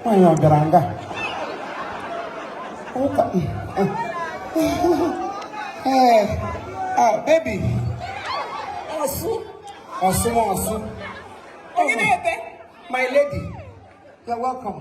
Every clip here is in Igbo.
nwaanyị ọ bịara nga ụka ee baby ọsụ ọsụ ọsụ onye na-ebe my lady you're welcome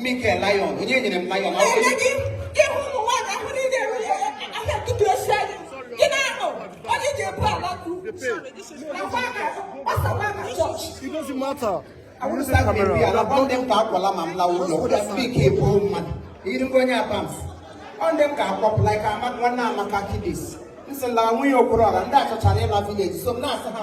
Mikel Lion onye nyere m Lion It doesn't matter. I want to start with you. I want them to akwala ma m lawo ụlọ. Just speak Igbo mmadụ. Iri ngwa onye abams. Ọ ndị m ga-akwapụ like Amaka nwanne Amaka kidis. Nsị la nwunye Okoro la ndị achọchara ịla village so m na-asị ha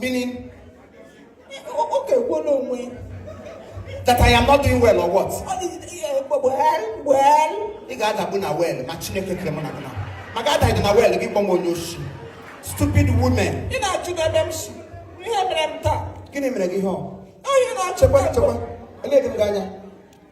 meaning ọ ga-ekwu n'onwe that I am not doing well or what? ị ga-adagbu na well ma Chineke kere mụ na gị na ma ga adaghị na well gị kpọwa m onye oshi stupid women ị na-ajụ n'ebe m si ihe mere m taa gịnị mere gị ihe ọ onye na-achịkwa chekwa eleghị m gị anya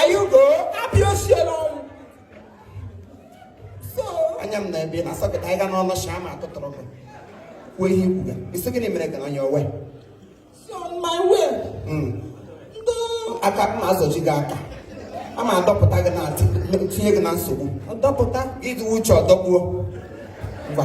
ayugo abịa osiela ọnwụ so anya m na ebe na socket ị ga-anọ n'ishi ama atụtụrụ gị kwuo ihe ị kwuga ị sị gịnị mere gị na onye owe so my way hmm. ndị aka m na-azọchi gị aka a ma adọpụta gị na tinye gị na nsogbu ọdọpụta ịdị uche ọdọgbuo ngwa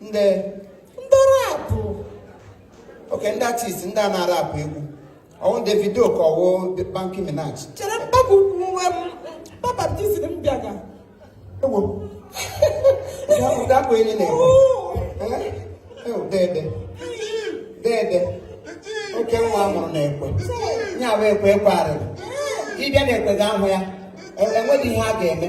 ndị ndị rap okay ndị artist ndị a na-arap egwu ọ wụ Davido ka ọ wụ Banky Minaj chere mkpagbu nwe m papa tiziri m bịaga ewo ụdakpụ enyi na-ekwe Eh? Eh, dede dede oke nwa mụrụ na-ekwe ya bụ ekwe ekwe arịrị ịbịa na-ekwe ga ahụ ya enweghị ihe a ga-eme